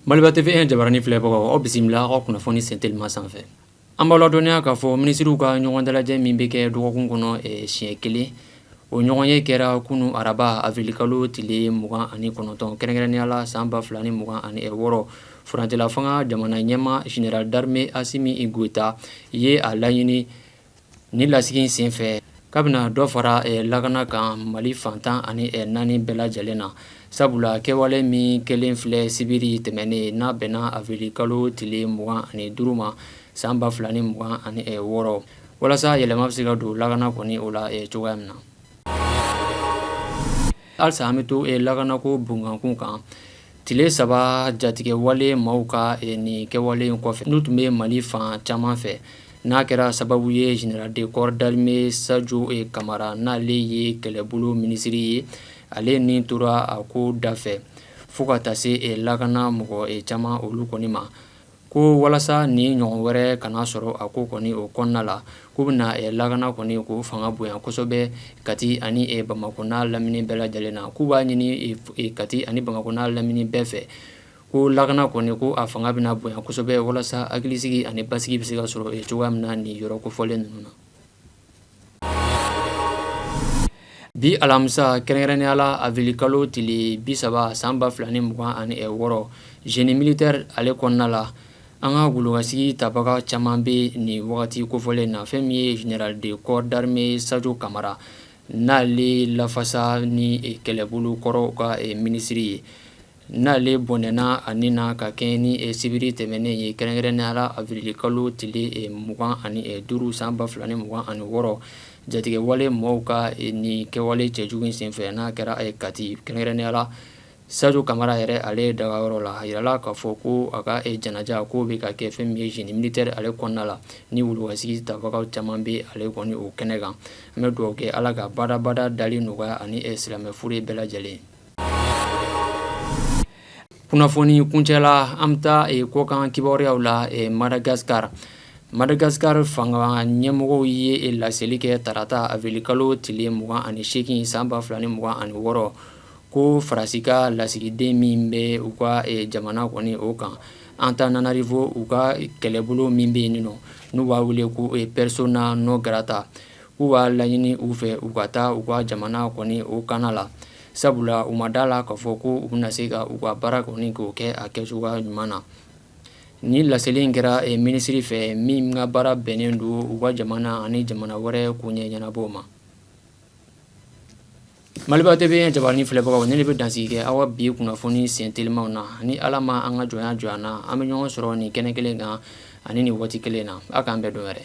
Maliba TV e jabarani filɛbagaw aw bisimila aw ka kunnafoni sen telima sanfɛ an b'aw ladɔnniya k'a fɔ minisiriw ka ɲɔgɔn dalajɛ min bɛ kɛ dɔgɔkun kɔnɔ siɲɛ kelen o ɲɔgɔn ye kɛra kunun araba awirili kalo tile mugan ani kɔnɔntɔn kɛrɛnkɛrɛnnenya la san ba fila ni mugan ani wɔɔrɔ furancɛla fanga jamana ɲɛmaa général d'armée Assimi Goïta ye a laɲini ni lasigi senfɛ k'a bɛna dɔ fara lakana kan mali fan tan ani naani bɛɛ lajɛlen na sabula kɛwale min kɛlen filɛ sibiri tɛmɛnen n'a bɛnna awirili kalo tile mugan ani duuru ma san ba fila ni mugan ani wɔɔrɔ walasa yɛlɛma bɛ se ka don lakana kɔni o la cogoya min na halisa an bɛ to lakanako bonyankun kan tile saba jatigɛwale maaw ka nin kɛwale in kɔfɛ n'u tun bɛ mali fan caman fɛ n'a kɛra sababu ye général de corps d'armée Sadio Camara n'ale ye kɛlɛbolo minisiri ye ale ni tora a ko dafɛ fo ka taa se lakana mɔgɔ caman olu kɔni ma ko walasa nin ɲɔgɔn wɛrɛ kana sɔrɔ a ko kɔni o kɔnɔna la k'u bɛna lakana kɔni ko fanga bonya kosɛbɛ kati ani bamakɔ n'a lamini bɛɛ lajɛlen na k'u b'a ɲini kati ani bamakɔ n'a lamini bɛɛ fɛ ko lakana kɔni ko a fanga bɛna bonya kosɛbɛ walasa hakilisigi ani basigi bɛ se ka sɔrɔ cogoya min na nin yɔrɔ kofɔlen ninnu na Bi alamisa kɛrɛnkɛrɛnnenya la awirili kalo tile bi saba san ba fila ni mugan ani wɔɔrɔ génie militaire ale kɔnɔna la an ka golokasigi tabaga caman bɛ nin wagati kofɔlen na fɛn min ye général de corps d'armée Sadio Camara n'ale lafasa ni kɛlɛbolo kɔrɔ ka minisiri ye N'ale bɔnɛna a ni na ka kɛɲɛ ni sibiri tɛmɛnen ye kɛrɛnkɛrɛnnenya la awirili kalo tile mugan ani duuru san ba fila ni mugan ani wɔɔrɔ jatigɛwale mɔgɔw ka nin kɛwale cɛjugu in senfɛ n'a kɛra kati kɛrɛnkɛrɛnnenya la Sadio Camara yɛrɛ ale dagayɔrɔ la a yirala k'a fɔ ko a ka janaja ko bɛ ka kɛ fɛn min ye génie militaire ale kɔnɔna la ni wulukasigi tabagaw caman bɛ ale kɔni o kɛnɛ kan an bɛ dugawu kɛ ala ka badabada dali nɔgɔya ani silamɛ fure bɛɛ lajɛlen Kunnafoni kuncɛ la an bɛ taa kɔkan kibaruyaw la madagaskara madagaskara fanga ɲɛmɔgɔw ye laseli kɛ tarata awirili kalo tile mugan ani segin san ba fila ni mugan ani wɔɔrɔ ko faransi ka lasigiden min bɛ u ka jamana kɔni o kan Antananarivo u ka kɛlɛbolo min bɛ yen nin n'u b'a wele ko persona non grata u b'a laɲini u fɛ u ka taa u ka jamana kɔni o kan la sabula u ma d'a la k'a fɔ ko u bɛna se ka u ka baara kɔni k'o kɛ a kɛcogoya ɲuman na ni laseli in kɛra minisiri fɛ min ka baara bɛnnen don u ka jamana ani jamana wɛrɛ koɲɛ ɲɛnabɔ ma maliba tv jabaranin filɛbagaw nin de bɛ dansigi kɛ aw bi kunnafoni sen telimaw na ni ala ma an ka jɔnya jɔ an na an bɛ ɲɔgɔn sɔrɔ nin kɛnɛ kelen kan ani nin waati kelen na aw k'an bɛn don wɛrɛ